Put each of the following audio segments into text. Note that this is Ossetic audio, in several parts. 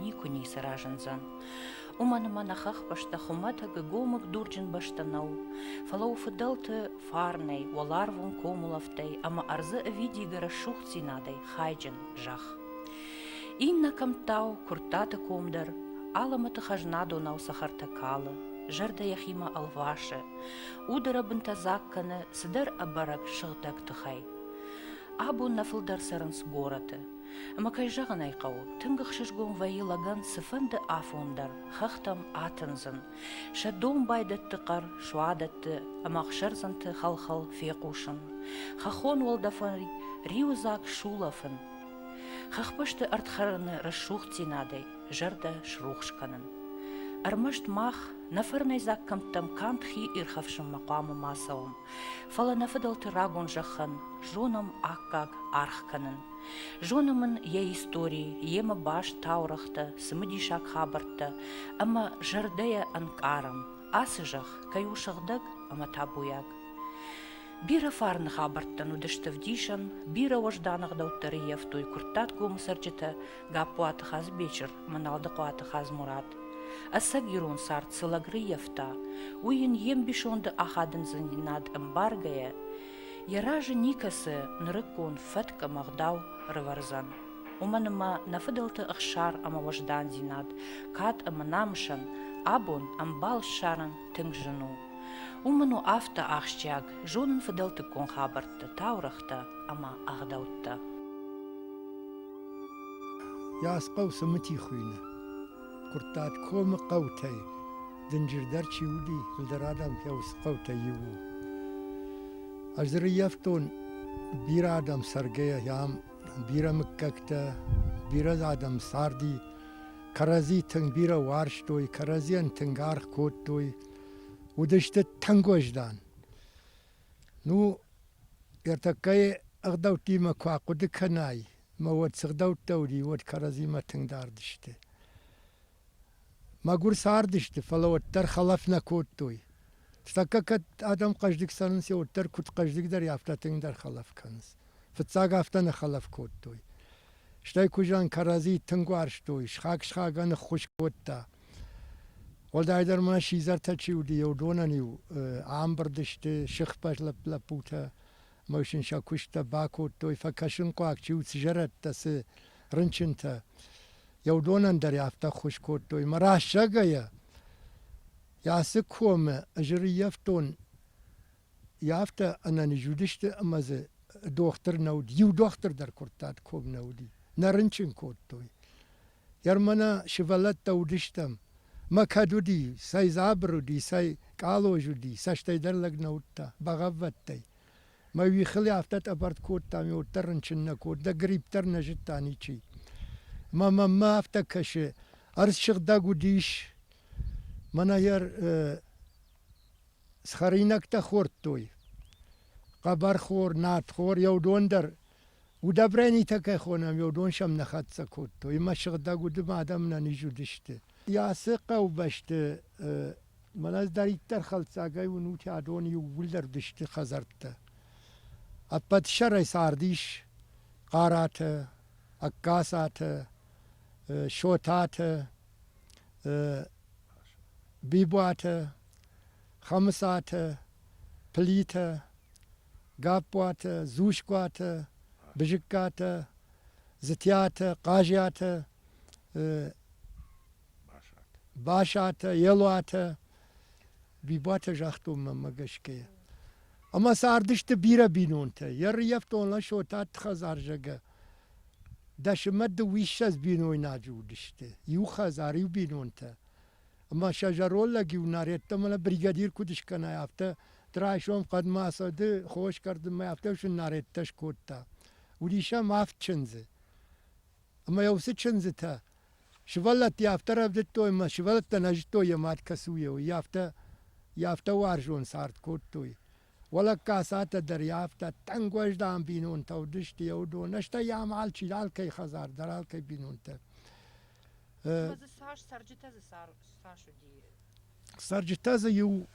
никуы ницы разындзӕн. Уымӕн ӕмӕ нӕ хӕхбӕстӕ хуымӕтӕг гомыг дурджын бӕстӕ нӕу, фӕлӕ у фыдӕлты фарнӕй, уӕларвон комулӕфтӕй ӕмӕ ӕрдзы ӕвидийгӕ рӕсугъддзинадӕй хайджын зӕхх. Иннӕ кӕмттау Куырттаты ком дӕр алӕмӕты хӕзнадонау цӕхӕртӕ калы, зӕрдӕ йӕхимӕ ӕлвасы, удӕрӕбынтӕ дзаг кӕны цыдӕр ӕбӕрӕг сыгъдӕг тыхӕй. Абон нӕ фылдӕр цӕрынц горӕты, Ӕмӕ, кӕй зӕгъын ӕй хъӕуы, тынг ӕхсызгон вӕййы лӕгӕн цыфӕнды афон дӕр хӕхтӕм атындзын, сӕ домбайдӕтты хъӕр, суадӕтты ӕмӕ ӕхсӕрдзӕнты хӕл-хӕл фехъусын, хӕххон уӕлдӕфӕй риуыдзаг сулӕфын, хӕхбӕсты ӕрдхӕрыны рӕсугъддзинадӕй зӕрдӕ срухс кӕнын. Ӕрмӕст мах, нӕ фӕрнӕйдзаг кӕмттӕм канд хи ирхӕфсынмӕ хъуамӕ ма цӕуӕм, фӕлӕ нӕ фыдӕлты рагон зӕххӕн зонӕм аккаг аргъ кӕнын. Зонӕм ын йӕ истори, йемӕ баст таурӕгътӕ, цымыдисаг хабӕрттӕ ӕмӕ зӕрдӕйӕ ӕнкъарӕм, ацы зӕхх кӕй у сыгъдӕг ӕмӕ табуйаг. Бирӕ фарны хабӕрттӕн уыдысты вдисӕн, бирӕ уӕздан ӕгъдӕуттӕ рӕййӕфтой Куырттат комы цӕрджытӕ Гаппуаты Хазбечыр ӕмӕ Налдыхъуаты Хадзмурат. Ӕцӕг ирон цард цы лӕг рӕййӕфта, уый йын йе мбисонды ахадындзинад ӕмбаргӕйӕ, Йӕ разы никӕцы нырыккон фӕтк ӕмӕ ӕгъдау рывӕрдзӕн. Уымӕн ӕмӕ нӕ фыдӕлты ӕхсар ӕмӕ уӕздандзинад, кад ӕмӕ намысӕн абон ӕмбал ссарӕн тынг зын у. Уым мын у афтӕ ахсджиаг зонын фыдӕлтыккон хабӕртты, таурӕгътӕ ӕмӕ ӕгъдӕуттӕ. Йӕ асхъау цы мыти хуыйны. Куырттат комы хъӕутӕй дынджырдӕр чи уыди, фылдӕр адӕм хъӕуы хъӕутӕй иу у. Ӕз дзы рыййӕфтон бирӕ адӕм цӕргӕйӕ, ам бирӕ мыггӕгтӕ, бирӕ адӕм царди, кӕрӕдзи тынг бирӕ уарзтой, кӕрӕдзийӕн тынг аргъ кодтой, уыдысты тынг уӕздан. Ну, ӕртӕккӕйы ӕгъдӕуттимӕ куы ахъуыды кӕнай, Ма уӕд цы гъдӕуттӕ уыди, уӕд кӕрӕдзимӕ тынг дард сты. Мӕгуыр цардысты, фӕлӕ уӕддӕр хӕлӕф нӕ кодтой. Тӕккӕ кӕд адӕм хъӕздыг цӕрынц, йӕ уӕддӕр куыд хъӕздыгдӕр, афтӕ тынгдӕр хӕлӕф кӕнынц. Фыццаг афтӕ нӕ хӕлӕф кодтой. Стӕй куызӕн кӕрӕдзи тынг уарзтой, схаг-схагӕн ныххуыз кодта. Уӕлдайдӕр ма сидзӕртӕ чи уыди, йӕ уыдонӕн-иу ӕмбырд сты сыхбӕс лӕппутӕ, ӕмӕ сын сӕ куысттӕ бакодтой, фӕкӕсынхъуаг чи уыд зӕрӕдтӕ, цы рынчынтӕ. Йӕ уыдонӕн дӕр афтӕ ӕххуыс кодтой. Мӕ рассагӕйӕ, ацы комы ӕз ӕрыййӕфтон, афтӕ ӕнӕниз уыдысты, ӕмӕ дзы дохтыр нӕ уыд. Иу дохтыр дӕр куырттат ком нӕ уыди. Нӕ рынчын кодтой. Ермана сывӕллӕттӕ уыдыстӕм. Мӕ кӕд уыди, цӕй дзабыр уыди, цӕй къалоз уыди, цӕстӕйдӕр лӕг нӕ уыдта, бӕгъӕввӕдтӕй. Мӕ уихыл афтӕ тъӕбӕртт кодтам, уӕддӕр рынчын нӕ код, дӕ грипп дӕр нӕ зыдта ничи. Мӕ маммӕ афтӕ кӕсы, ӕрдз сыгъдӕг уыдис. Мӕнӕ йӕ схӕринӕгтӕ хордтой. Хъӕбӕрхор, надхор, йӕ уыдон дӕр Удобренитӕ кӕй хонӕм, уыдон сӕм нӕ хӕццӕ кодтой, ӕмӕ сыгъдӕг удым адӕм нӕ низ уыдысты. Йӕ ацы хъӕубӕсты мӕнӕ ӕз дӕриддӕр хӕлцагӕй уынут, адон иууылдӕр уыдысты хӕдзӕрттӕ. Ӕппӕт сӕрӕй цард ис хъаратӕ, ӕккасатӕ, сотатӕ, бибуатӕ, Хӕмыцатӕ, Плитӕ, Гаппуатӕ, Дзускуатӕ, Бызыккатӕ, Дзытиатӕ, Хъазиатӕ, Басатӕ, Елуатӕ, Бибуатӕ загътон мӕнмӕ гӕсгӕ. Ӕмӕ цардысты бирӕ бинонтӕ. Йӕ рыййӕфтон Ласо та хӕдзар зӕгӕ. Дӕсымӕ дыууиссӕдз бинойнаджы уыдысты. Иу хӕдзар, иу бинонтӕ. ӕма сӕ зӕронд лӕг-иу нӕр йеддӕмӕ нӕ бригадир куд скӕнай, афтӕ райсом хъӕдмӕ ацыды хос кӕрдынмӕ, афтӕ сын нарӕдтӕ скодта. Уыдис ӕм авд чындзы. Ӕмӕ йӕ уыцы чындзытӕ сывӕллӕтты афтӕ рӕвдыдтой ӕмӕ сывӕллӕттӕ нӕ зыдтой йӕ мад кӕцуйӕ у, йӕ афтӕ йӕ афтӕ уарзон цард кодтой. Уӕлӕккасатӕ дӕр йӕ афтӕ тӕнг уӕздан бинонтӕ уыдысты йӕ уыдон, стӕй йӕм алчи, алкӕй хӕдзар дӕр, алкӕй бинонтӕ. Ӕмӕ дзы цас цӕрджытӕ дзы цас уыди? Цӕрджытӕ дзы иу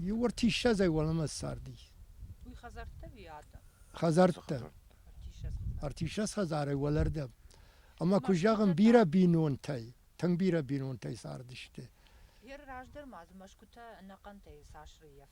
иу ӕртиссӕдзӕй уӕлӕмӕ царди. Уый хӕдзӕрттӕ ви адӕм? Хӕдзӕрттӕ. Ӕртиссӕдз хӕдзарӕй уӕлӕрдӕм. Ӕмӕ куы зӕгъын, бирӕ бинонтӕй, тынг бирӕ бинонтӕй цардысты. Гъер раздӕр ма дзы мӕсгуытӕ ӕнӕхъӕнтӕй цас рыййӕф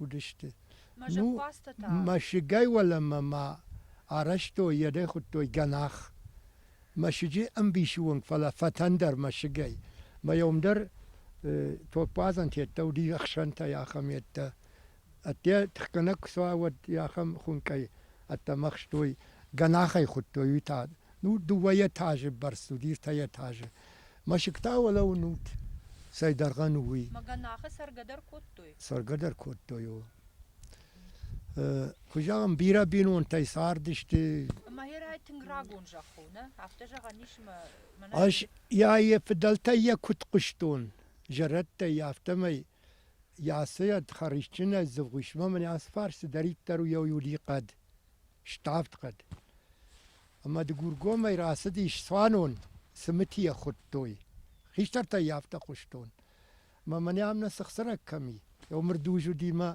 уыдысты. Мӕ зӕппӕдзтӕ та? Мӕсыгӕй уӕлӕмӕ ма арӕзтой, йӕ дӕ хуыдтой гӕнах. Мӕсыджы ӕмбисы уынг, фӕлӕ фӕтӕн дӕр мӕсыгӕй. Мӕйом дӕр топпадзӕн тедта уыди ӕхсӕнтӕй ахӕм ӕддӕ. Ӕдде тыхгӕнӕг куы суа, уӕд ахӕм хуынкъӕй ӕддӕмӕ хстой, гӕнахӕй хуыдтой, уый та, ну, дыууӕ этажы бӕрц уыди, ӕртӕ этажы. Мӕсыгтӕ уӕлӕуынут, цӕй дӕргъӕн у, уый. Магӕнахы цӕргӕ дӕр кодтой? Цӕргӕ дӕр кодтой, о. Куы зӕгъӕм, бирӕ бинонтӕй цардысты. Ӕмӕ Херӕй тынг рагон зӕхх у, нӕ? Афтӕ зӕгъӕн ис ӕмӕ мӕнӕ. Ӕз йӕ йӕ фыдӕлтӕй йӕ куыд хъуыстон, зӕрӕдтӕй, афтӕмӕй йӕ асӕй ӕд хӕрзджынӕй дзывгъусмӕ мын ацы фарс цыдӕриддӕр у йӕ уди хъӕд. Ставд хъӕд. Ӕмӕ Дыгургомӕй рацыдис цуанон, цымытийӕ хуыдтой. Хистӕртӕй йӕ афтӕ хъуыстон. Мӕ мӕн ам нӕ цыхцырӕг кӕм и? Ёмырдуз уыди мӕ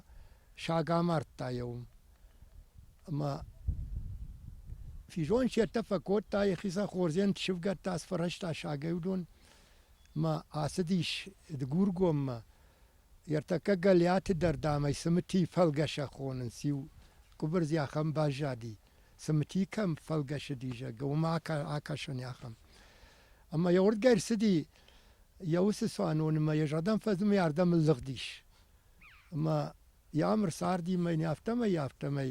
саг амардта йӕ уым. Ӕмӕ физон се ртӕ фӕкодта, йӕхицӕн хордзен ссывгӕдта, сфӕрӕзта сагӕй уыдон. Мӕ ацыдис Дыгургоммӕ. Ӕртӕккӕ Гӕлиаты дӕр, дам ӕй цымытийы фӕлгӕсӕг хонынц, иу къуыбырдз йӕ ахӕм баззади, цымыти кӕм фӕлгӕсыди, зӕгъгӕ, уымӕ акӕсони ахӕм. Ӕмӕ йӕ уырдгӕ ӕрцыди йӕ уыцы цуанонмӕ йӕ зӕрдӕм фӕзмы, йӕ ардӕм ӕлыгъдис. Ӕмӕ йӕ ам ӕрцарди мӕ йын афтӕмӕй, афтӕмӕй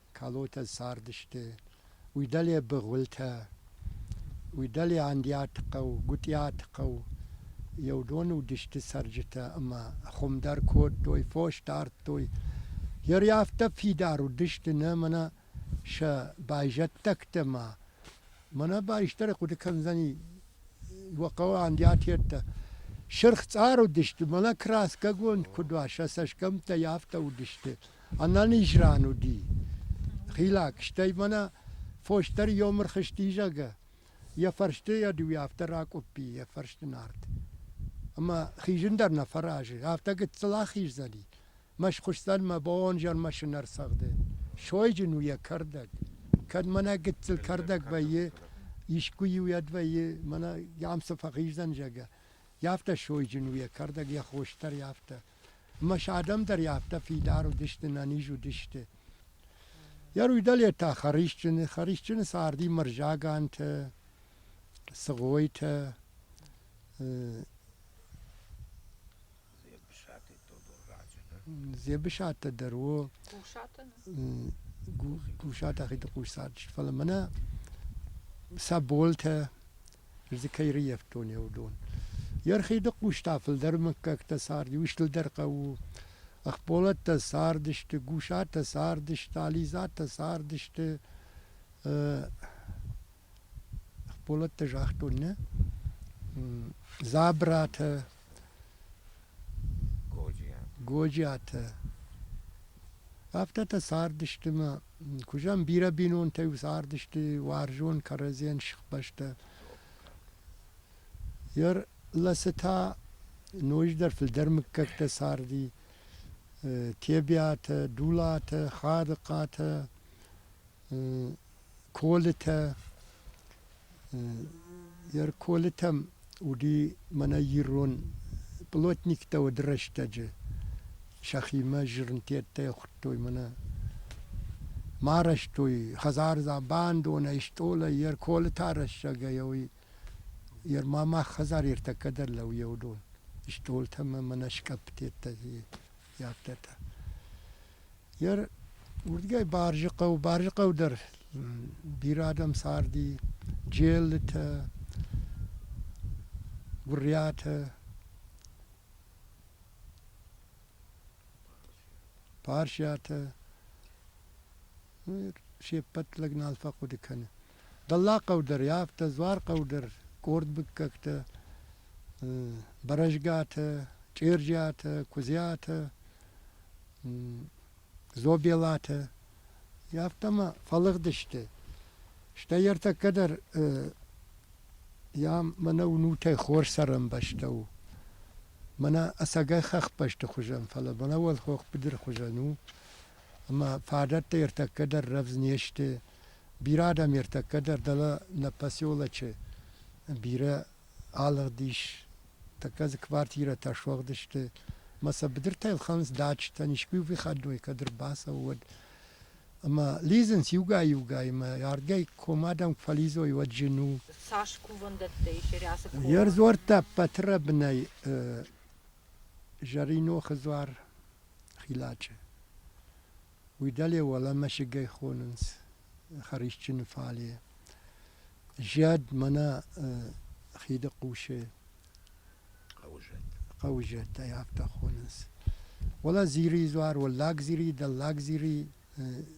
Калотӕ цардысты Уидалебы гъуылтӕ, Уидалеандиаты хъӕу, Гуытъиаты хъӕу. Еу доны уыдысты цӕрджытӕ ӕмӕ хуым дӕр кодтой, фос дардтой. Ери афтӕ фидар уыдысты нӕ мӕнӕ сӕ байзӕддӕгтӕ ма. Мӕнӕ байстӕры хъуыды кӕндзӕни уӕ хъӕуы андиатеттӕ. Сырх цъар уыдысты, мӕнӕ краскӕгонд куыд уа, сӕ цӕсгӕмттӕй афтӕ уыдысты. Ӕнӕниз ран уыди. Хилӕг, стӕй мӕнӕ фосдӕр ёмыр хызти, зӕгъы, йӕ фӕрсты йӕ дыууӕ афтӕ ракъуыппи, йӕ фӕрсты нард. Ӕмӕ хизын дӕр нӕ фӕразы, афтӕ гыццыл ахиздзӕни. Мӕ схуысдзӕн мӕ бонзӕр мӕшын ӕрцӕгъды. Сойджын у йӕ кӕрдӕг. Кӕд мӕнӕ гыццыл кӕрдӕг вӕййы, искуы-иу ӕд вӕййы, мӕнӕ йӕм цы фӕхиздзӕн, зӕгъы. Йӕ афтӕ сойджын у йӕ кӕрдӕг, йӕ хос дӕр афтӕ. Ӕмӕ сӕ адӕм дӕр афтӕ фидар уыдысты, нӕниз уыдысты. Йӕ руйдалетӕ хӕрисджыны, хӕрисджыны царди мӕрзаганты, цыгъойтӕ, Дзебысатӕ дӕр у. Гусаты Ахиды хъусард. Фӕлӕ мӕнӕ сӕ болтӕ, дзы кӕй рыййӕфтон я уыдон. Йе рхиды хъустӕ фылдӕр мыггӕгтӕ царди, устылдӕр хъӕу у. Ӕхболӕттӕ цардысты, Гусатӕ цардысты, Ализӕтӕ цардысты. Ӕхболӕттӕ загътон, нӕ? Дзабратӕ, Годжиатӕ. Афтӕтӕ цардысты ма куызӕн бирӕ бинонтӕ-иу цардысты уарзон кӕрӕдзийӕн сыхбӕстӕ. Йӕ ласы та ноджыдӕр фылдӕр мыггӕгтӕ царди. Тебиатӕ, Дулатӕ, Хадыхъатӕ, Колытӕ йӕ колытӕм уыди мӕнӕ ирон пълотниктӕ уыд рӕстӕджы. Сӕхимӕ зырнтӕттӕй хуыдтой мӕнӕ. Ма арӕзтой хӕдзар бандонӕй, стъолӕй, йӕ колытӕ арӕзсагӕй уый йӕ ма мах хӕдзар ӕртӕккӕ дӕр лӕууы уыдон. Стъолтӕ мӕ мӕнӕ скъӕппытӕ Йагкӕта. Йер уырдгӕй Барджыхъӕу, Барджыхъӕу дӕр бирӕ адӕм царди, Джеллытӕ, Гуырриатӕ, Парсиатӕ, се ппӕт лӕг нал фӕхъуыды кӕны. Дӕллагхъӕу дӕр, афтӕ Дзуархъӕу дӕр къорд мыггӕгтӕ, Бӕрӕзгатӕ, Чъирджиатӕ, Куыдзиатӕ, Зобелатӕ, афтӕ ма фӕлыгъдысты. Стӕй ӕртӕккӕ дӕр йӕ мӕнӕ уынутӕй хорз цӕрӕнбӕстӕ у. Мӕнӕ ӕцӕгӕй хӕхбӕсты хуызӕн, фӕлӕ мӕнӕ уӕлхох быдыры хуызӕн у. ӕмӕ фадӕттӕ ӕртӕккӕ дӕр рӕвдз не сты. Бирӕ адӕм ӕртӕккӕ дӕр дӕлӕ нӕ поселочы бирӕ алыгъд ис. Тӕккӕ дзы квартирӕтӕ суӕгъдысты ӕмӕ сӕ быдыртӕ ӕлхӕнынц дачӕтӕн, искуы выходной, кӕд ӕрбацӕуы, уӕд. Ӕмӕ лидзынц иугай-иугаймӕ, ардгӕй ком адӕм куы фӕлидзой, уӕд зын у. Цас кувӕндӕттӕ ис Рӕсы комы? Йе рдзуӕрттӕ ӕппӕты рӕбынӕй Зӕринохы дзуар Хилачъе. Уый дӕле уӕлӕ мӕсыгӕй хонынц хӕрисджыны фале. Зӕд мӕнӕ хиды хъусы Хъӕуызӕт. Хъӕуызӕт ӕй афтӕ хонынц. Уӕлӕ зирийы дзуар, Уӕллаг Зирийы, Дӕллаг Зирийы,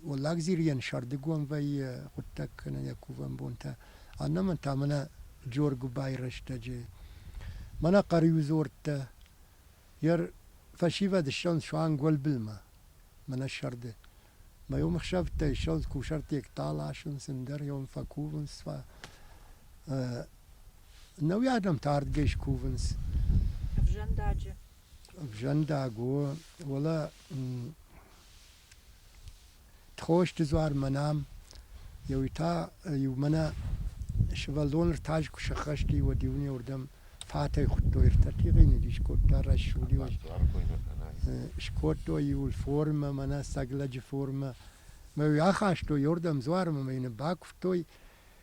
Уӕллаг Зирийӕн сӕрдыгон вӕййы хъуыддаг кӕнӕ йӕ кувӕн бонтӕ. Аннӕмӕн та мӕнӕ Джоргуыбайы рӕстӕджы. Мӕнӕ Хъӕриудзордтӕ. Йе рфӕсивӕд ссӕнд суанг уӕлбылмӕ, мӕнӕ сӕрды. Мӕ уым ӕхсӕвтӕй ссӕнд кусӕрттег таласынц, ӕндӕр-ион фӕкувынц. Нӕуи адӕм та ардгӕй скувынц. Ӕвзӕндаджы. Ӕвзӕндаг у, уӕлӕ Тхости дзуармӕ нӕм еуи та иумӕ нӕ сывӕллон ӕртаджы куы сӕххӕсти, уӕд иунӕуырдӕм фатӕй хуыдтой, ӕртӕ тигъййнаг искодта рӕсугъд иу скодтой иуыл формӕ, мӕнӕ сӕг лӕджы формӕ. Мӕ йӕ ахастой уырдӕм дзуармӕ, мӕ йын бакуывтой,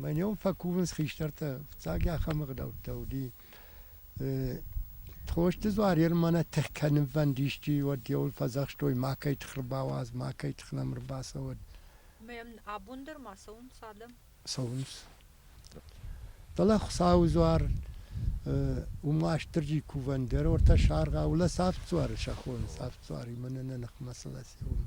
Мӕ ном фӕкувынц хистӕртӕ, фыццаг ахӕм ӕгъдӕуттӕ уыди. Тхосты дзуар Ермӕнӕ тых кӕнынвӕнд исчи уӕд йеуыл фӕдзӕхстой, макӕй тых ӕрбауадз, макӕй тых нӕм ӕрбацӕуӕд. Мӕм абон дӕр ма цӕуынц адӕм? Цӕуынц. Фӕлӕ Хуыцауы дзуар уым Уастырджи кувӕн дӕр, ортӕ саргъ, аулӕ Савд дзуары сӕ хоны, Савд дзуаримӕ нӕ нӕ ныхмӕ цы лӕсе, уым.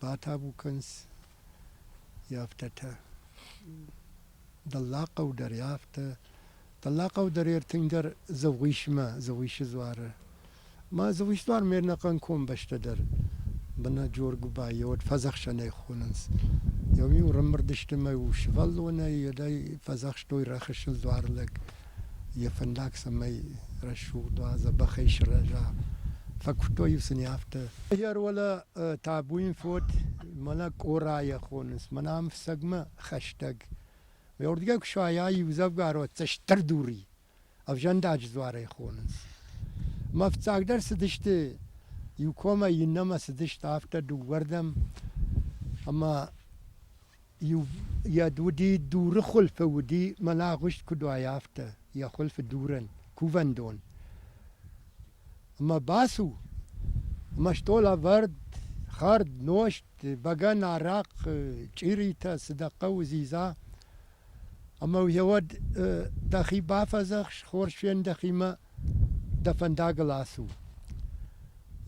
батабу кӕныс, афтӕтӕ. Дӕллагхъӕу дӕр йӕ афтӕ. Дӕллагхъӕу дӕр йе ртынгдӕр Дзӕугъисмӕ, Дзӕугъисы дзуары. Мӕ Дзӕугъисы дзуар ме рнӕхъӕн комбӕстӕ дӕр бынӕджор гуыбайы уӕд фӕдзӕхсӕнӕй хонынц. Ем-иу ӕрӕмбырд сты мӕ-иу сывӕллонӕй, уӕдӕй фӕдзӕхстой рӕхысыл дзуар лӕг. йӕ фӕндаг цӕмӕй рӕсугъд уа, дзӕбӕхӕй сырӕза. Фӕкуыдтой-иу сын афтӕ. Ӕгӕр уӕлӕ табу йын фод, мӕнӕ Къорайӕ хонынц, мӕнӕ ам фцӕгмӕ хӕстӕг. Уырдыгӕй куы суайа, иудзӕвгӕрон цӕстӕрдур и, ӕвзӕндаджы дзуарӕй хонынц. Мӕ фццагдӕр цыдысты, иу комӕй иннӕмӕ цыдысты афтӕ дыууӕрдӕм, ӕмӕ Йӕд уыди дуры хуылфы, уыди, мӕнӕ агъуыст куыд уайа, афтӕ, йӕ хуылфы дурӕн, кувӕндон. Ӕмӕ бацу, ӕмӕ стъол ӕвӕрд, хӕрд, нозт, бӕгӕн, арахъ, чъиритӕ, цы дӕ хъӕуы, дзидза. Ӕмӕ йӕ уӕд дӕхи бафӕдзӕхс хорз фен дӕхимӕ, дӕ фӕндагыл ацу.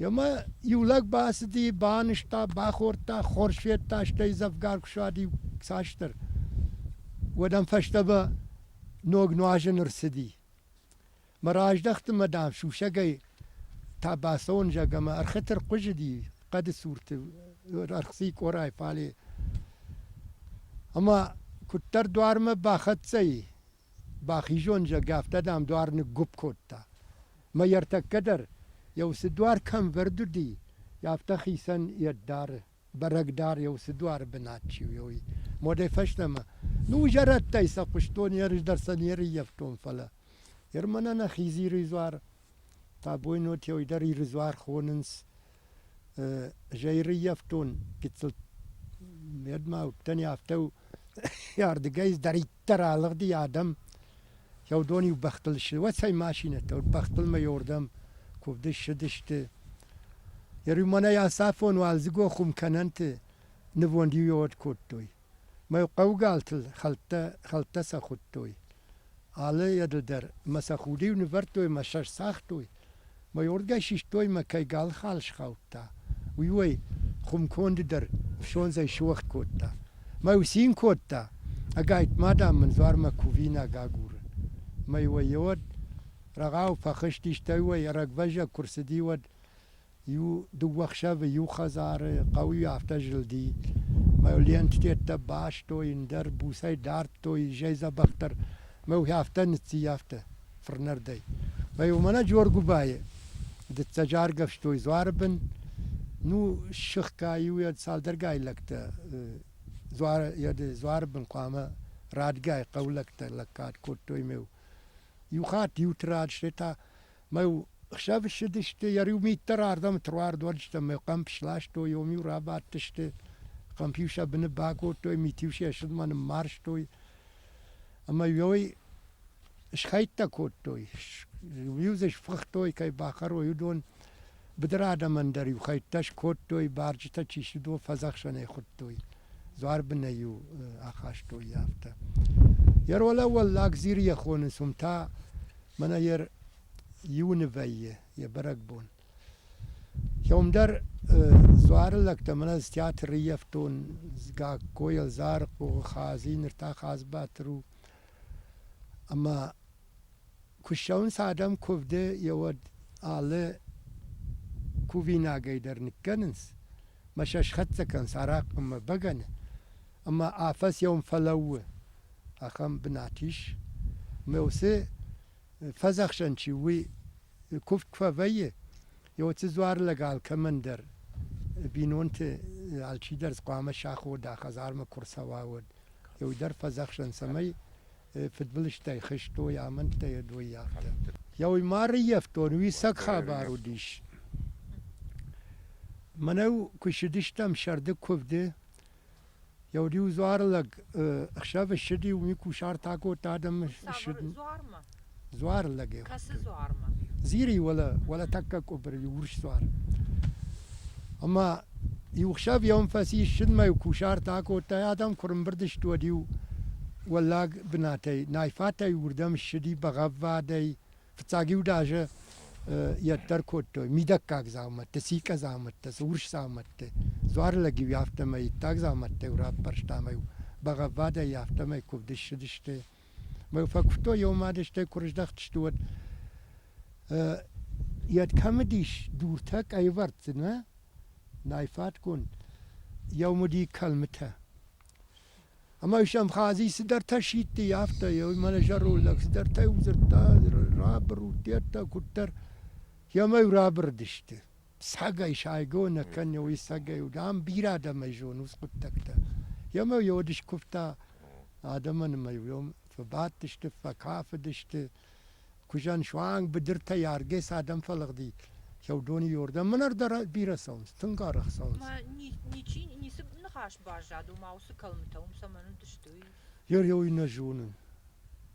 Ӕмӕ иу лӕг бацыди, банызта, бахордта, хорз федта, стӕй дзӕвгар куы сади кӕстӕр, уӕд ӕм фӕстӕмӕ ног нуазӕн ӕрцыди. Мӕ раздӕхты мӕ, дам, сусӕгӕй та бацӕуын зӕгъ ӕмӕ ӕрхыты рхъуызыди хъӕды цурты ӕрхцыи къорӕй фале. Ӕмӕ куыддӕр дуармӕ бахӕццӕ и, Бахизон, зӕгъгӕ, афтӕ, дам, дуар ныггуыпп кодта. Мӕ ӕртӕккӕ дӕр, еу цы дуар кӕм вӕрд уыди, афтӕ хицӕн йӕ дары, бӕрӕг дӕр еу цы дуары бынат чи уйой. Модӕй фӕстӕмӕ, ну, зӕрӕдтӕй сӕ хъуыстон, ерыс дӕр сӕ не рыййӕфтон, фӕлӕ. Ныр мӕнӕ нӕ Хизиры дзуар Бабойнотӕй дӕр Ирыдзуар хонынц. Зӕйрыййӕфтон гыццыл медмӕ уыдтӕни, афтӕ у ардыгӕй ӕддӕриддӕр алыгъди адӕм. Кӕуыдон-иу бӕхтыл ссыуӕцӕй машинӕтӕ уыд, бӕхтылмӕйордӕм куывды ссыдысты. Йӕ рюмонӕй ацафон уалдзыгон хуымкӕнӕнты нывонд иу-иу од кодтой. Мӕ хъӕугӕлтыл хӕлттӕ сӕ хуыдтой. Алы еды дӕр мӕ сӕ худ-иу нывӕрдтой мӕ сӕ сцагътой. Мӕйоргӕй систой мӕ кӕй галхал схаудта, уый-уой хуымконды дӕр фсондзӕй суӕгъд кодта. Мӕ йу цин кодта, ӕгайтма, дам, мын дзуармӕ кувинаг агуры. Мӕй уӕ-уӕд рӕгъау фӕхызт, истӕй уӕ ӕрӕгвӕззӕг куы рцыди, уӕд. Иу-дыууӕ хсӕвы иу хӕдзары хъӕуы афтӕ зылди, мӕ ленттӕ бастой, ӕндӕр буцӕй дардтой изӕй дзӕбӕхдӕр, мӕ уый афтӕ ныцциййӕфта фырнӕрдӕй. Мӕ уымӕн Джоргуыбайы дыццӕджы аргӕвстой дзуары бын, ну, ссыгъка-иу йӕ цалдӕргай лӕгтӕ дзуары, йӕ дзуары бын хъуамӕ радгай хъӕу лӕгтӕ лӕггад кодтой ме у. Иу хатт иуты рад, стӕй та Мӕ хсӕв ссыдысты, йӕ риу мит дӕр ардӕм труардуӕрджытӕм мӕ хъӕмп сластой, ом-иу рабадтысты, хъӕмп-иу сӕ быны бакодтой, мит-иу сӕ ссыдмӕ ныммарзтой. Ӕмӕ иой схӕйттӕ кодтой, иу дзы сфыхтой, кӕй бахӕрой, уыдон. Быдыры адӕмӕн дӕр-иу хӕйттӕ скодтой, барджытӕ чи цыдо фӕдзӕхсӕнӕй хуыдтой, дзуарбынӕй-иу ахастой йӕ афтӕ. Йӕ ролӕ Уӕллаг Зирийӕ хонынц уым та, мӕнӕ йӕ иуны вӕййы йӕ бӕрӕгбон. Кӕуымдӕр дзуары лӕгтӕ мӕнӕ ӕз театры риевтон Гагкойыл, Зарыхъо, Хадзи, ныр та Хадзбатыр у. Ӕмӕ Куыссӕуынц адӕм куывды йӕ уӕд алы кувинагӕй дӕр ныккӕнынц, мӕ сӕ схӕццӕ кӕнынц арахъхъмӕ бӕгӕны, ӕмӕ афӕдз йӕм фӕлӕууы, ахӕм бынат ис. Ӕмӕ уыцы фӕдзӕхсӕн чи у, уый куывд куы фӕвӕййы, йӕ уыцы дзуар лӕг алкӕмӕн дӕр бинонты алчидӕр хъуамӕ сахода, хӕдзармӕ куы рцӕуа, уӕд. Уый дӕр фӕдзӕхсӕн, цӕмӕй фыдбылызтӕй хызтой амӕндтӕ йӕ доййӕфтӕ. Еуймары йӕфтон уисӕг хабар уыдис. Мӕнӕу куы ссыдыстӕм сӕрды куывды, еу риу дзуар лӕг ӕхсӕвы ссыди, уый кусарт акодта адӕмы ссыдын. дзуар лӕг ӕй Кӕцы дзуармӕ? Зири уӕлӕ, уӕлӕ тӕккӕ къуыбыры, иу урс дзуар. Ӕмӕ иу хсӕв йӕм фӕци ссыдмӕ-иу кусарт акодта, адӕм куы рымбырд сты, уӕд-иу уӕллаг бынатӕй, найфатӕй уырдӕм ссыди бӕгъӕввадӕй, фыццаг-иу даже йӕддӕр кодтой мидӕггаг дзаумӕттӕ, сикъа дзаумӕттӕ, цы урс дзаумӕтты. Дзуар лӕг-иу афтӕмӕй иттӕг дзаумӕттӕ-иу раппӕрста ӕмӕ-иу бӕгъӕввадӕй афтӕмӕй куывд ссыдысты. Фӕкуывтой йӕ, ома стӕй куы рыздӕхтысты, уӕд йӕд кӕм уыдис, дуртӕ къӕйвӕрдты, нӕ? Найфатгонд. Йӕм уыди кӕлмытӕ. Ӕмӕ ис Абхази цыдӕртӕ сидти, афтӕ, мӕнӕ зӕроллаг цыдӕртӕ дзырдта, рабыр у, деттӕ, куыддӕр. Йӕм ӕй рабырыдысты. Сагӕй сайго нӕ кӕнеуй, сагӕй уд. Ам бирӕ адӕмӕй зонуц хъуддӕгтӕ. Емӕ йе уд скуывта адӕмӕн ӕмӕ йӕм фӕбадтысты, фӕкафыдысты. Куызӕн суанг быдыртӕй аргӕ цы адӕм фӕлыгъди, сӕудоны йордӕм мӕнӕ дӕр бирӕ цӕуынц, тынг арӕх цӕуынц. Мӕ ничи, ницы ныхас баззад, ома уыцы кӕлмытӕ уым цӕмӕн уыдысты, уый? Йӕ иу нӕ зонын.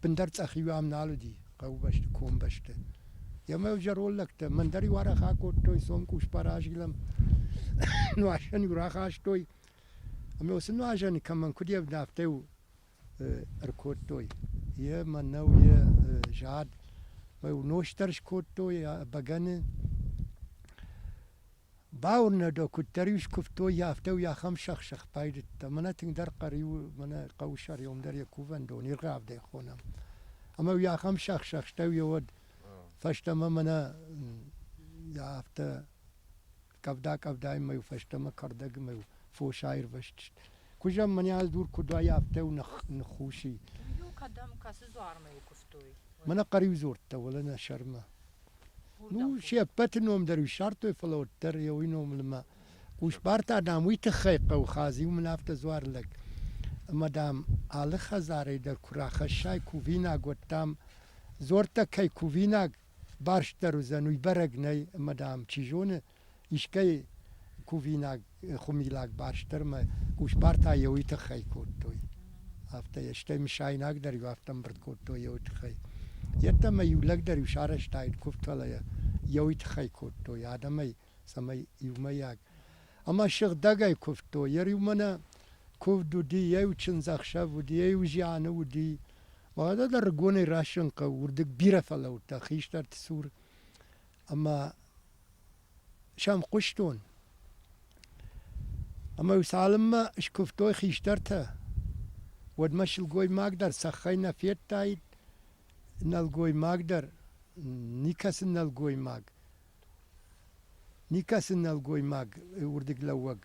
Бындар цъӕхиу ам нал уыди, хъӕубӕсты, комбӕсты. Ема-иу зӕронд лӕгтӕ мӕн дӕр-иу арах акодтой, цомкус баразилӕм, нуазӕн-иу рахастой, ӕмӕ уыцы нуазӕны кӕмӕн куыд ӕвда, афтӕ-иу ӕркодтой. Йӕ мӕнӕу, йӕ зад, мӕ-иу нос дӕр скодтой бӕгӕны. Бауырна дӕ, куыддӕр-иу скуывтой, афтӕ-иу ахӕм сӕх-сӕх байдыдта. Мӕнӕ тынгдӕр хъӕр-иу мӕнӕ хъӕусӕрион дӕр йӕ кувӕндон, иргъӕвдӕй хонӕм. Ӕмӕ-иу йӕ ахӕм сӕх-сӕхтӕ йӕ уӕд фӕстӕмӕ мӕнӕ йӕ афтӕ къӕвда-къӕвдаймӕ-иу фӕстӕмӕ кӕрдӕгмӕ-иу фос аирвӕзтысты. Куызӕн мӕнӕ дур куыд уайа, афтӕ-иу ных- ныххуси. Хъӕриу кӕдӕм кӕцы дзуармӕ куывтой? Мӕнӕ хъӕриу дзордта, уӕлӕ нӕ сӕрмӕ. Ну, се ппӕты ном дӕр ссардтой, фӕлӕ уӕддӕр йӕ уый номыл ӕмӕ Хъусбарта, дам, уый тыххӕй хъӕуы хадзи, уым ын афтӕ дзуар лӕг. Ӕмӕ, дам, алы хӕдзарӕй дӕр куы рахӕссай кувинаг, уӕд, дам, дзуӕрттӕ кӕй кувинаг барстдӕр уыдзӕн, уый бӕрӕг нӕй, ӕмӕ, дам, чи зоны, Искӕй кувинаг, хумилаг барст дӕр мӕ къусбартӕ еуи тыххӕй кодтой. Афтӕ, стӕй мысайнагдӕр-иу афтӕ ӕмбырд кодтой еуи тыххӕй. Йеддӕ мӕ-иу лӕгдӕр-иу сарӕзтаид куывд, фӕлӕ йӕ еуи тыххӕй кодтой адӕмӕй, цӕмӕй иумӕйаг ӕмӕ сыгъдӕгӕй куывдтой. Йӕ риумӕ нӕ куывд уыди, йӕ иу чындзӕхсӕв уыди, йӕ иу зианы уыди. Уӕдӕ дӕр рыгонӕй расын хъӕуы, уырдыг бирӕ фӕлӕудтӕ хистӕрты цур ӕмӕ сӕм хъуыстон. Ӕмӕ-иу цалынмӕ скуывтой хистӕртӕ, уӕдмӕ сылгоймаг дӕр цӕххӕй нӕ федтаид, нӕлгоймаг дӕр, никӕцы нӕлгоймаг, никӕцы нӕлгоймаг уырдыглӕууӕг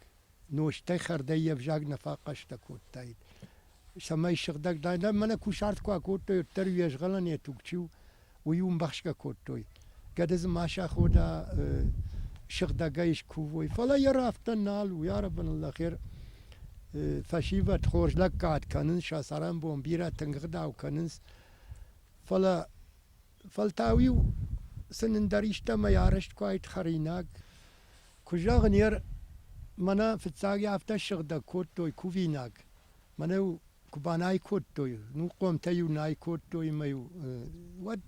нозтӕй хӕрдӕй йе взаг нӕ фӕхъӕстӕ кодтаид, цӕмӕй сыгъдӕг дадаид. Мӕнӕ кусарт куы акодтой, уӕддӕр уе згъӕлӕн йӕ туг чи у, уый умбӕхсгӕ кодтой. Гӕды дзы ма сахода, сыгъдӕгӕй скувой. Фӕлӕ йӕ рафтӕн нал у, ӕрӕбынӕллӕх, фӕсивӕд хорз лӕггад кӕнынц, сӕ цӕрӕнбон бирӕ тынг ӕгъдау кӕнынц. Фӕлӕ Фӕлтау-иу сын ӕндӕр истӕмӕй арӕзт куы уаид хӕринаг. Куы зӕгъын, ер мӕнӕ фыццаги афтӕ ссыгъдӕг кодтой кувинаг. Мӕнӕ-иу куы банай кодтой, ну хъомтӕ-иу най кодтой ӕмӕ-иу уӕд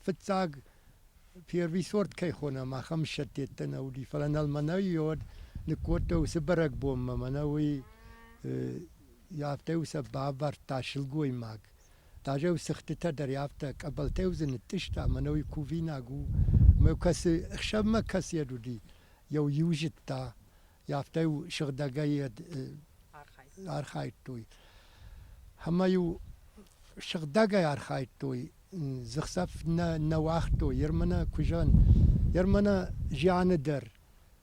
фыццаг первый сорт кӕй хонӕм, ахӕм сӕттӕттӕ нӕ уыди. Фӕлӕ нӕл мӕнӕ-иу уӕд ныккодтой уыцы бӕрӕгбонмӕ. Мӕнӕ уый афтӕ-иу сӕ бавӕрдта сылгоймаг. Тажеу сыгъдтытӕ дӕр афтӕ, къӕбӕлтӕй дзы нытътъыста, мӕнӕуи кувинаг у, мӕ кӕцы, хсӕвмӕ кӕцы йӕд уыди, йӕу иу зыдта, афтӕ-иу сыгъдӕгӕй йӕд архайдтой. Ӕмӕ-иу сыгъдӕгӕй архайдтой, дзыхцӕф нӕ, нӕ уагътой Ермана куызӕн, Ермана зианы дӕр.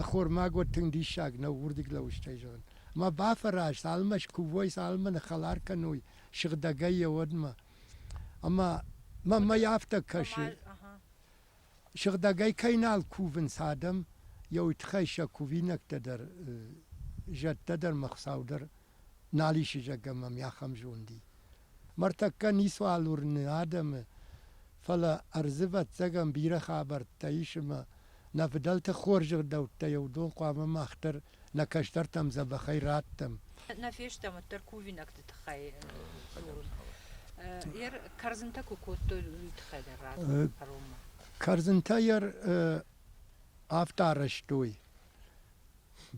Ӕххормаг уӕд тынг диссаг нӕу уырдыг лӕуыстӕй зӕгъын. Ӕмӕ бафӕраз, цалынмӕ скувой, цалынмӕ нӕ хӕлар кӕной сыгъдӕгӕй йӕ уӕдмӕ. Ӕмӕ мӕ мӕй афтӕ кӕсы, сыгъдӕгӕй кӕй нал кувынц адӕм, йӕ уый тыххӕй сӕ кувинӕгтӕ дӕр, зӕдтӕ дӕр мӕ Хуыцау дӕр нал ис зӕгъгӕ мӕм ахӕм зонди. Мартӕккӕ ницуал уырны адӕмы, фӕлӕ ӕрдзы ӕвӕццӕгӕн бирӕ хабӕрттӕ ис ӕмӕ нӕ фыдӕлты хорз ӕгъдӕуттӕй уыдон хъуамӕ мах дӕр нӕ кӕстӕртӕм дзӕбӕхӕй раттӕм. Нӕ фестӕм уӕддӕр кувинӕгты тыххӕй. Йӕ кӕрдзынтӕ куы кодтой, уый тыххӕй дӕр радтон кӕронмӕ. Кӕрдзынтӕ йӕ афтӕ арӕзтой,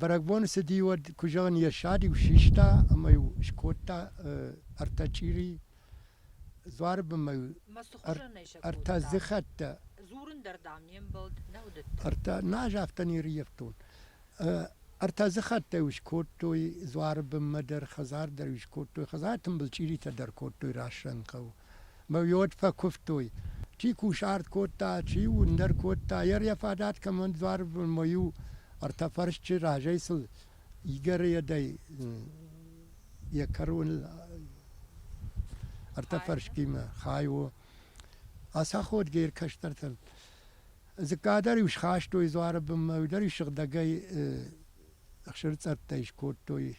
Бӕрӕгбоны цыди уӕд, куы зӕгъын, йӕ сӕр-иу систа ӕмӕ-иу скодта ӕртӕ чъири, дзуары бынмӕ-иу ӕртӕ дзыхӕттӕ. Дзурын дӕр, дам, не мбӕлд нӕ уыдыдтӕн. Ӕртӕ, нӕ ӕз афтӕ не рййӕфтон. Ӕртӕ дзыхӕттӕ-иу скодтой дзуары бынмӕ дӕр, хӕдзар дӕр-иу скодтой. Хӕдзары тымбыл чъиритӕ дӕр кодтой Рассӕн хъӕуы. мӕ уод фӕкуывтой. Чи кусарт кодта, чи уындӕр кодта, йӕ йӕ фадат кӕмӕн дзуарбон мӕ-иу ӕртӕ фӕрсчы разӕй сыл игӕрыйӕдӕй йӕ кӕроныл ӕртӕ фӕрскимӕ хай у. Ацаходгӕ ир кӕстӕртыл. Дзыкка дӕр-иу схастой дзуары бынмӕ, уый дӕр-иу сыгъдӕгӕй ӕхсырцъӕрттӕй скодтой.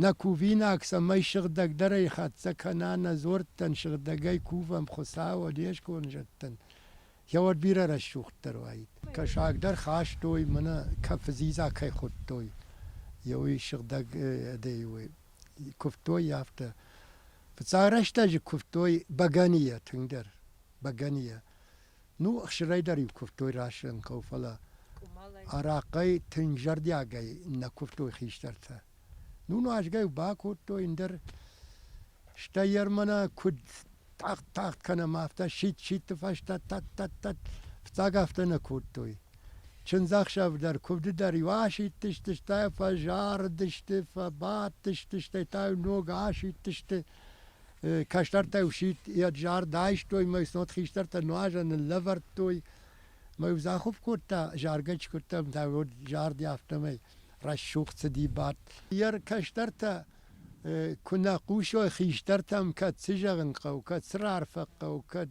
Нӕ кувинаг цӕмӕй сыгъдӕгдӕрӕй хӕццӕ кӕна, нӕ дзуӕрттӕн сыгъдӕгӕй кувӕм Хуыцауы, не сконд зӕдтӕн. Йӕ уӕд бирӕ рӕсугъддӕр уаид. Кӕсагдӕр хастой, мӕнӕ кӕфы дзидза кӕй хуыдтой, йӕ уый сыгъдӕг ӕдей уый. Куывтой йӕ афтӕ. Фыццаг рӕстӕджы куывтой бӕгӕныйӕ тынгдӕр, бӕгӕныйӕ. Ну, ӕхсырӕй дӕр-иу куывтой расын хъӕуы, фӕлӕ арахъхъӕй тынг зӕрдиагӕй нӕ куывтой хистӕртӕ. Ну, нуазгӕ-иу бакодтой ӕндӕр, стӕй Ермана куыд тагъд-тагъд кӕнӕм, афтӕ сидт-сидты фӕстӕ тӕт-тӕт-тӕт фыццаг афтӕ нӕ кодтой. Чындзӕхсӕв дӕр, куывды дӕр-иу асидтысты, стӕй фӕзарыдысты, фӕбадтысты, стӕй та-иу ног асидтысты. кӕстӕртӕ сидт ед зард айстой мӕ снод хистӕртӕ нуазӕ ныллӕвӕрдтой мӕ захуп кодта заргӕ чи куыдтам та уӕд зарди афтӕмӕй рӕсугъд цыди бадт йе кӕстӕртӕ куы нӕ хъусой хистӕртӕм кӕд цы зӕгъын хъӕуы кӕд цы раарфӕ хъӕуы кӕд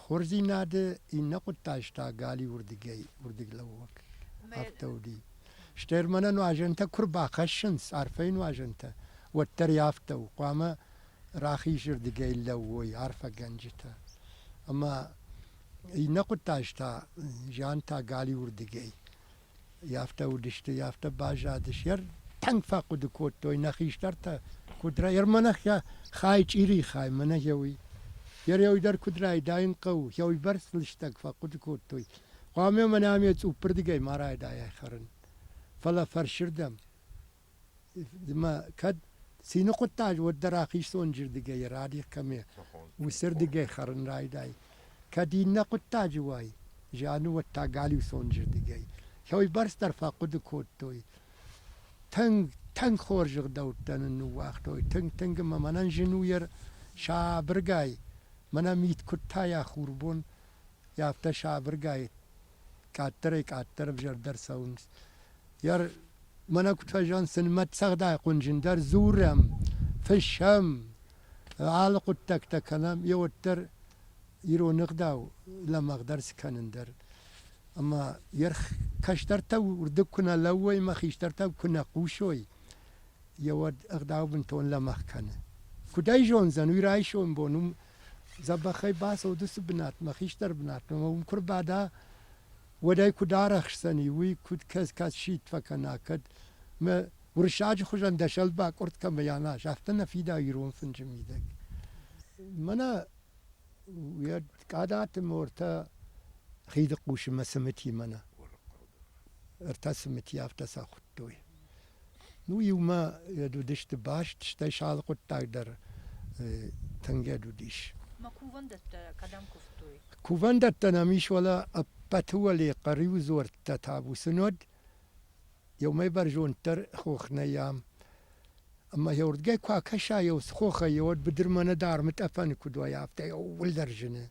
Хорздзийнадӕ иннӕ гъуддӕстӕ гали урдигӕй, урдиглӕууӕг афтӕ уди. Стӕр мӕнӕ нуазӕнтӕ куы рбахӕссынц, арфӕйы нуазӕнтӕ, уӕддӕр и афтӕ у, хъуамӕ рахизырдыгӕй лӕууой арфӕгӕнджытӕ. Ӕмӕ иннӕ хъуыддӕгтӕ зиантӕ галиуырдыгӕй Афтӕ уыдысты, афтӕ баззадыс. Йӕ тынг фӕхъуыды кодтой нӕ хистӕртӕ, куыд рай... Ӕрмӕнӕ йӕ хай чъирийы хай, мӕнӕ гъеуый. Йӕ рӕуый дӕр куыд райдайын хъӕуы, гъеуыйбӕрц лыстӕг фӕхъуыды кодтой. Хъуамӕ мӕнӕ ме цъуппырдыгӕй ма райдайай хӕрын. Фӕлӕ фӕрсырдӕм. Ма кӕд цины хъуыддаг уӕддӕр ахистонджырдыгӕй радих кӕны, уыцырдыгӕй хӕрын райдай. Кӕд иннӕ хъуыддаджы уай, зианы уӕд та галиусонджырдыгӕй кӕуыйбӕрцдӕр фӕхъуыды кодтой. Тынг, тынг хорз ӕгъдӕуттӕ нын ныууагътой, тынг-тынг ӕмӕ мӕнӕн зын у йӕ сабыргай, мӕнӕ мит куыд тайа хурбон, афтӕ сабыргай къаддӕрӕй-къаддӕр ӕвзӕрдӕр цӕуынц. Йар, мӕнӕ куыд фӕзӕгъын, сын мӕтцӕгъдайы хъуынджындӕр дзурӕм, фыссӕм, алы хъуыддӕгтӕ кӕнӕм, йе уӕддӕр ирон ӕгъдау лӕмӕгъдӕр скӕнын дӕр. Ӕмӕ йе кӕстӕртӕ уырдыг куы нӕ лӕууой ӕмӕ хистӕртӕ куы нӕ хъусой, йе уӕд ӕгъдау бынтон лӕмӕгъ кӕны. Куыд ӕй зондзӕн, уый райсом бон Дзӕбӕхӕй бацӕуыд уыцы бынатмӕ, хистӕр бынатмӕ, ӕмӕ уым куы рбада, уӕд ӕй куыд арӕхсдзӕни, уый куыд кӕс, кӕд сидт фӕкӕна, кӕд мӕ уырыссаджы хуызӕн дӕ сӕлбакъуырд кӕмӕй аназ, афтӕ нӕ фида ирон фынджы мидӕг. Мӕнӕ уӕд Къадаты мортӕ хиды хъусы мӕ цымытимӕ нӕ ӕртӕ цымыти афтӕ сӕ хуыдтой. Ну, иумӕ йӕд уыдысты баст, стӕй сӕ алы хъуыддаг дӕр тынгӕд уыдис. Ма кувӕндӕттӕ кӕдӕм куывтой? Кувӕндӕттӕ нӕм ис, уӕлӕ ӕппӕты уӕле хъӕриу дзуӕрттӕ табусы нод. Еумӕ бӕрзонддӕр хох нӕй ам. Ӕмӕ еуырдгӕй куы акӕса еу хохӕй, уӕд быдырмӕ над армытъӕпӕны куыд уайа, афтӕ ууылдӕр зыны.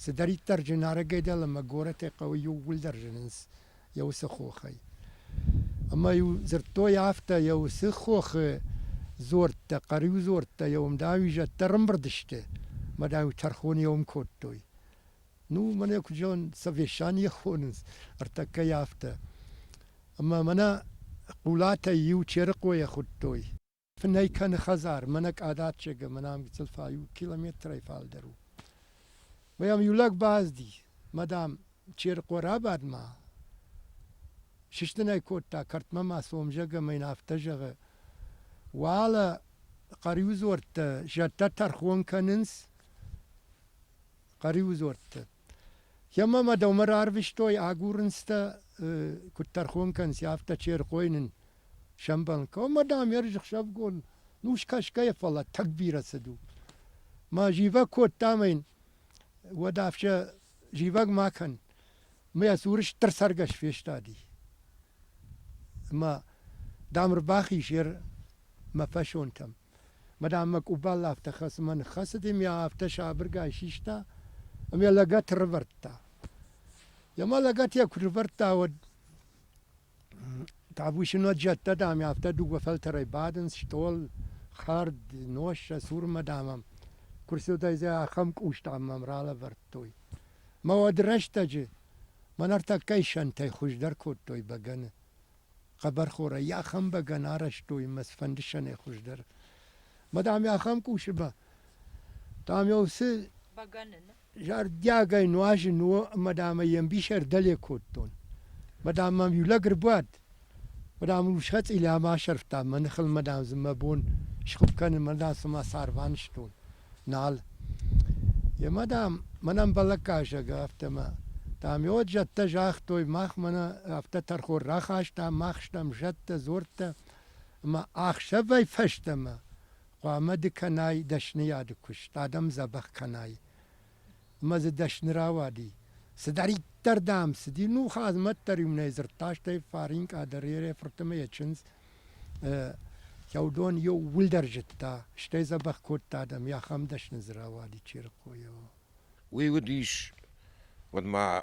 Цыдӕриддӕр зынарӕгӕй дӕл ӕмӕ горӕтӕй хъӕуы иууылдӕр зынынц. йӕ уыцы хохӕй. Ӕмӕ-иу дзырдтой афтӕ, йӕ уыцы хохы дзорттӕ, хъӕриу дзорттӕ йӕ уым, дам-иу зӕдтӕ рымбырд сты мӕ, дам-иу тӕрхоны йӕ уым кодтой. Ну, мӕн йӕ куыд зӕгъын, Совещание хонынц, ӕртӕккӕ йӕ афтӕ. Ӕмӕ мӕнӕ Хъулатӕй иу Черыхъойӕ хуыдтой. Фынӕй кӕны хӕдзар, мӕнӕ Къадаччегы, мӕнӕ гыццыл фӕ иу километрӕй фалдӕр у. Мӕм иу лӕг базди, мадам, Черыхъо рабад-ма. Сыстын ӕй кодта, кӕртмӕ ма цом, зӕгъ ӕмӕ йын афтӕ зӕгъы, уӕлӕ хъӕриудзордтӕ зӕдтӕ тӕрхон кӕнынц, хъӕриудзордтӕ. Емӕ ма дӕумӕ рарвистой агурынцтӕ, куыд тӕрхон кӕнынц, афтӕ черхъой нын сӕмбӕлын хъӕуы. Ӕмӕ, дам, ӕрзӕхсӕвгон нус кӕсгӕйӕ, фӕлӕ тынг бирӕ цыд у. Мӕ зивӕг кодтам ӕй, уӕд ӕфсӕ зивӕг ма кӕн. Ӕмӕ йӕ цуры стыр цӕргӕс фестади. Ӕмӕ, дам, ӕрбахиз йӕ мӕ фӕсонтӕм. Мадам мӕ къубал афтӕ хӕцынмӕ ныххӕцыд, ӕмӕ йӕ афтӕ сабыргай систа, ӕмӕ йӕ лӕгӕт ӕрывӕрдта. Йӕ ма лӕгӕт йӕ куы рывӕрдта, уӕд табусинаг зӕдтӕ, дам, афтӕ дыууӕ фӕлтӕрӕй бадынц, стъол, хӕрд, нос сӕ цурмӕ, дам, ӕм куы рцыдӕй, зӕ ахӕм къус, дам, мӕм ралӕвӕрдтой. Мӕ уӕд рӕстӕджы мӕ нартӕккӕй сӕнтӕй хуыздӕр кодтой бӕгӕны. хъӕбӕрхорӕй йӕ ахӕм бӕгӕн арӕзтой мӕ цыфӕндысӕнӕй хуыздӕр. Мӕ дам, йӕ ахӕм къусы ба, дам, йӕ уыцы зӕрдиагӕй нуазын у, ӕмӕ дам ӕй йе мбис ӕрдӕле кодтон. Мӕ дам мӕм иу лӕг ӕрбуад, мӕ дам ыл схӕцъилӕ ма асӕрфта мӕ ныхыл мӕ дам дзы мӕ бон схуыпп кӕнын, мӕ дам цыма цар банызтон. нал. Емӕ, дам, мӕнӕн бӕлӕггӕсӕг ӕй афтӕмӕ. Дам, уӕд зӕдтӕ загътой, мах мӕнӕ афтӕ тӕрхон рахастам, мах стӕм зӕдтӕ, дзорттӕ, ӕмӕ ӕхсӕвӕй фӕстӕмӕ хъуамӕ ды кӕнай дӕсныйады куыст, адӕм дзӕбӕх кӕнай. ӕмӕ дзы дӕсны рауади. Цыдӕриддӕр, дам, цыди, ну, Хъазмӕт дӕр иу нӕ дзырдта, стӕй Фаринкъа дӕр йӕ фырты ӕмӕ йӕ чындз Сӕудон иууылдӕр зыдта, стӕй дзӕбӕх кодта адӕм, йӕ ахӕм дӕсны дзы рауади Черыхъойыл. Уый уыдис, уӕд ма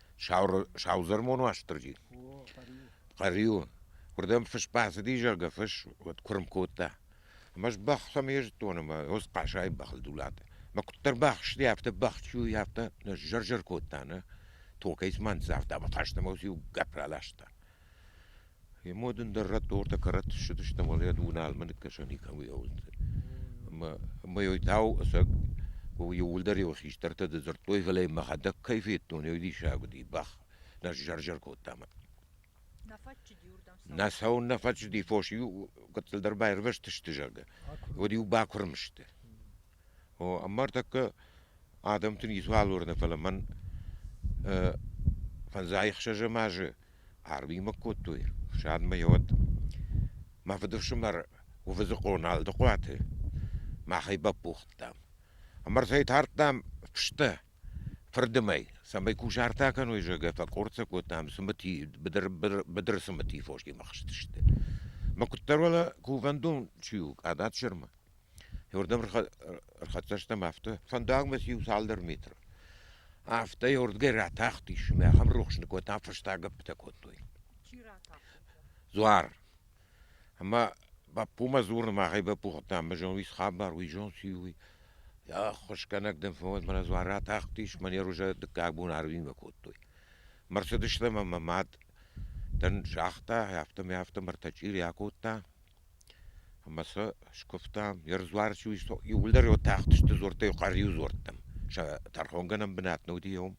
Саудзӕрмон Уастырджи. Хъӕриуы. Уырдӕм фыс бацыди, зӕгъгӕ, фыс уӕд куырм кодта. Ӕмӕ сбӕхс ӕм йе зӕддон ӕмӕ ӕз хъасайы бӕхыл дулат. Мӕ куыддӕр бахсти, афтӕ бӕхчуй, афтӕ нӕ зӕр-зӕр кодта, нӕ? Токӕй цыма ныццавта ӕмӕ хӕстӕмӕ иу гӕпп раласта. Йӕ модындӕр рӕттортӕ кӕрӕтт ссыдысты ӕмӕ йӕ Дуналмӕ ныккӕсӕн никӕм лӕууыдысты. Ӕмӕ ӕмӕ йой тау ӕцӕг иууылдӕр йыл хистӕртӕ дзырдтой, фӕлӕ йын мӕхӕдӕг кӕй федтон, йой диссаг уыди. Бӕх нӕ сзӕр-зӕр кодта мӕ. Нӕ цӕуын нӕ фӕччыди, фос-иу гыццылдӕр баирвӕзтысты, зӕгъгӕ, уӕд-иу бакуырм сты. Ӕмӕ ӕртӕккӕ адӕмты ницуал уырны, фӕлӕ мӕн фӕндзай-ӕхсӕзӕм азы арвимӕ кодтой ӕфсадмӕ йӕ Мӕ фыдыфсымӕр Уывыдзы Къоналдыхъуаты махӕй баппӕхстам. Ӕмӕ ӕртӕйы тардтам фыстӕ фырдымӕй, цӕмӕй кусарт акӕной, зӕгъгӕ, фӕкъорд сӕ кодтам цымыти, быдыр, быдыр, быдыры цымыти фосимӕ хызтысты. Мӕ куыддӕр уӕлӕ кувӕндон чи у, Ӕдад-Сырмы. Уырдӕм ӕрхӕццӕ стӕм афтӕ. Фӕндагмӕ циу цалдӕр метры. Афтӕ уырдгӕй ратахтис, ӕмӕ ахӕм рухс ныккодтам, фӕстаг гӕппытӕ кодтой. Чи ратахта? Дзуар. Ӕмӕ бӕппумӕ дзурын, махӕй бӕппугъдтам, мы зон уый схабар, уый зон чи у, уый. Ӕххуысгӕнӕг дӕм фӕуӕд, мӕнӕ дзуар ратахтис, манер уже дыккаг бон Арвинмӕ кодтой. Мӕрсыдыстӕм ӕмӕ мад дӕн загъта, афтӕ мӕ афтӕ мӕртӕчъири акодта, Ӕмӕ сӕ скуывтам, йӕ руар чи у, иууылдӕр йӕ тахтысты дзуӕрттӕ, иу хъӕр-иу дзуӕрттӕм. Сӕ тӕрхонгӕнӕн бынат не уыди йӕм.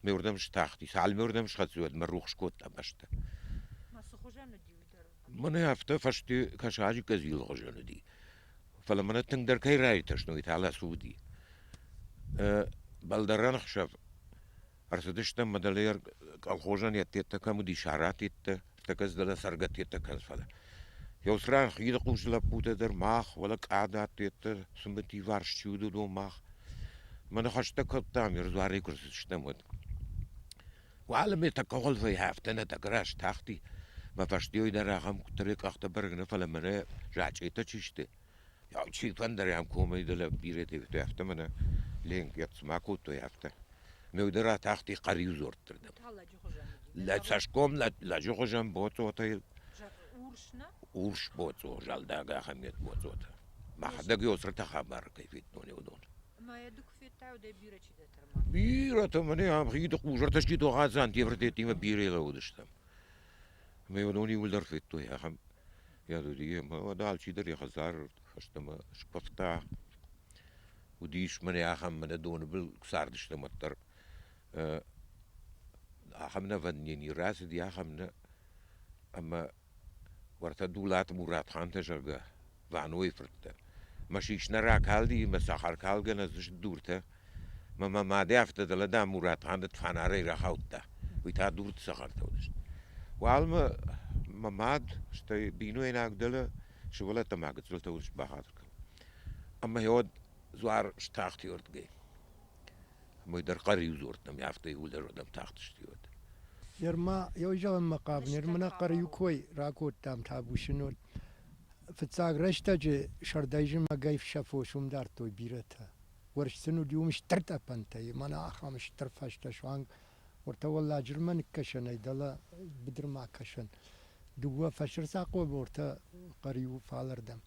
Ме уырдӕм стахти. Цалынмӕ уырдӕм схӕццӕ, уӕдмӕ рухс кодта бӕстӕ. Мӕнӕ афтӕ фӕсте кӕсаджы къӕдзилы хуызӕн уыди. Фӕлӕ мӕнӕ тынгдӕр кӕй раиртӕстой, уый та лӕсу уыди. Бӕлдӕрӕн ӕхсӕв Ӕрцыдыстӕм Мадалер колхозӕн йӕддеттӕ кӕм уыдис, аратеттӕ, тӕккӕ дӕлӕ цӕргӕттеттӕ кӕныс, фӕлӕ. Еуцран хиды лӕппутӕ дӕр мах, уӕлӕ къадаттеттӕ, цымыт иварс чи уыд, уыдон мах. Мӕ ныхӕстӕ кодтам, ме руарӕй куы рцыдыстӕм, уӕд. Уӕлӕ ме тӕккӕ уӕлвӕй афтӕ нӕ тӕграз тахти. Мӕ фӕстейыл дӕр ахӕм куыддӕр йӕ къӕхтӕ бӕрӕг нӕ, фӕлӕ мӕнӕ зачъетӕ чи сты, Ау, чи фӕндӕр ӕм комӕй дӕ лӕг бирӕ федтой, афтӕ мӕнӕ Ленк йӕ цыма кодтой, афтӕ. ме удӕр атахти Хъӕриу дзордты рдӕм. Лӕ цӕсгом лӕ лӕджы хуызӕн боцъотӕ йыл. Урс боцъо, зӕлдаг ахӕмет боцъотӕ. Мӕхӕдӕг йӕ цырты хабар кӕй федтон, уыдон. Бирӕтӕ мӕнӕ ам хиды хъузартӕ сты Торадзан, Тевртеттимӕ бирӕ лӕууыдыстӕм. Ӕмӕ уыдон иууылдӕр федтой ахӕм Йӕ дудийы мад алчидӕр йӕ хӕдзары фӕстӕмӕ скъуыдта. Уыдис мӕнӕ ахӕм, мӕнӕ доны был куы цардыстӕм, уӕддӕр ахӕм нӕвӕнд не ни рацыди, ахӕм нӕ. Ӕмӕ уӕртӕ Дулаты Муратхантӕ, зӕгъгӕ, Ванойы фырттӕ. Мӕ сис нӕ ракалди, мӕ цӕхӕркалгӕ нӕ дзыст дуртӕ. Ма мӕ мадӕ афтӕ дӕлӕ, дам, Муратханды фанарӕй рахаудта. Уый та дурд цӕхӕртӕ уыдысты. Уалмӕ мӕ мад, стӕй бинойнаг дӕлӕ сывӕллӕттӕ мӕ гыццылтӕ уырс бахатыр кӕнын. Ӕмӕ гьӕуӕд дзуар стахти уырдгӕй. Мой дӕр хъӕр-иу дзурдта, ӕмӕ афтӕ иууылдӕр уӕдӕм тахтысты уӕд. Ныр ма ой зӕгъынмӕ хъавы, ныр мын нӕ хъӕр-иу кой ракодтам табусынод. Фыццаг рӕстӕджы сӕрдӕй зымӕгӕй сӕ фос уым дардтой бирӕтӕ. уорс сын уыди уым стыр тъӕпӕнтӕй, мӕнӕ ахӕм стыр фӕзтӕ суанг уӕртӕ уӕлладжырмӕ ныккӕсӕнӕй дӕлӕ быдырмӕ акӕсӕн. Дыууӕ фӕсырдзахъо бортӕ хъӕр-иу фалӕрдӕм.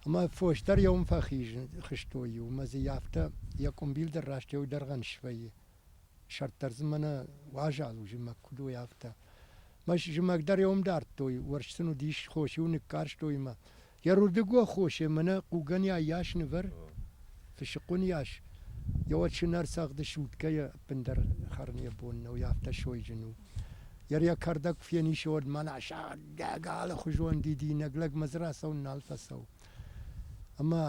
Ӕмӕ фос дӕр йӕ уым фӕхизтой иу, ӕмӕ дзы йӕ афтӕ йӕ къуымбил дӕр раст йӕ уыдӕргъӕн свӕййы. Сӕрд дӕр дзы мӕнӕ уазал у зымӕг, куыд уой афтӕ. Мӕ зымӕг дӕр йӕ уым дардтой, уорс сын уыдис, хос-иу ныккарстой мӕ, Йӕ рудыгуӕ хосе мӕнӕ хъугӕнӕй йас нывӕр, фысыкъуын йас, йӕ уӕд сынӕр цӕгъды суткӕйы ӕппындӕр хӕрын йӕ бон нӕу, йӕ афтӕ сойджын у. Йӕ йӕ кӕрдӕг фенисы уӕд мӕнӕ сӕдӕг алыхуызон дидинӕг лӕгмӕ дзы рацӕуын нал фӕцӕуы. Ӕмӕ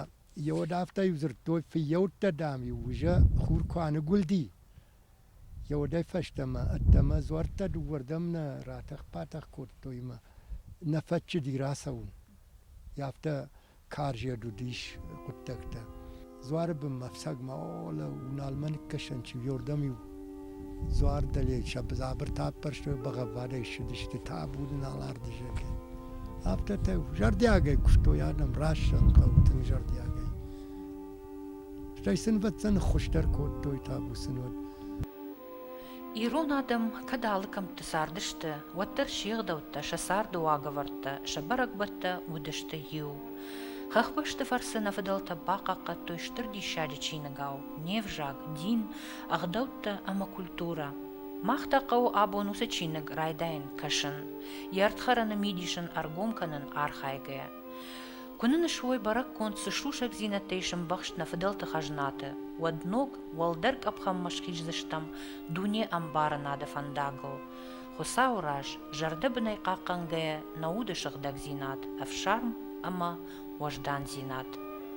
йӕ уӕд афтӕ иу дзырдтой, фыййӕуттӕ, дам-иу, уызӕ хур куы аныгуылди, Йӕ удӕй фӕстӕмӕ ӕддӕмӕ дзуӕрттӕ дыууӕрдӕм нӕ ратӕх-батӕх кодтой ӕмӕ нӕ фӕччыди рацӕуын. Афтӕ карзӕд уыдис хъуыддӕгтӕ. Дзуары бынмӕ ӕфцӕгмӕ олӕ Уналмӕ ныккӕсӕн чиуӕрдӕм-иу дзуар дӕле сӕ дзабыртӕ ӕппӕрстой, бӕгъӕввадӕй ссыдысты, табу дын Аларды зӕрде. Афтӕ та зӕрдиагӕй куыстой адӕм, раст зӕгъын хъӕуы тынг зӕрдиагӕй. Стӕй снвӕтдзӕн хуыздӕр кодтой табусын уӕд. Ирон адӕм кӕд алы кӕмтты цардысты, уӕддӕр се гъдӕуттӕ, сӕ царды уагӕвӕрдтӕ, сӕ бӕрӕгбӕттӕ уыдысты иу. Хӕхбӕсты фӕрцы нӕ фыдӕлтӕ бахъахъхъӕдтой стыр диссаджы чиныгау не взаг, дин, ӕгъдӕуттӕ ӕмӕ культурӕ. Мах та хъӕуы абон уыцы чиныг райдайын кӕсын, йӕ ӕрдхӕрӕны мидисын ӕргом кӕнын архайгӕйӕ. Куы нын суой бӕрӕггонд цы сусӕгдзинӕдтӕ ис ӕмбӕхст нӕ фыдӕлты хӕзнаты, уӕд ног, уӕлдӕр къӕпхӕнмӕ схиздзыстӕм дуне ӕмбарынады фӕндагыл. Хуыцауы раз, зӕрдӕбынӕй хъахъхъӕнгӕйӕ нӕ уды сыгъдӕгдзинад, ӕфсарм ӕмӕ уӕздандзинад.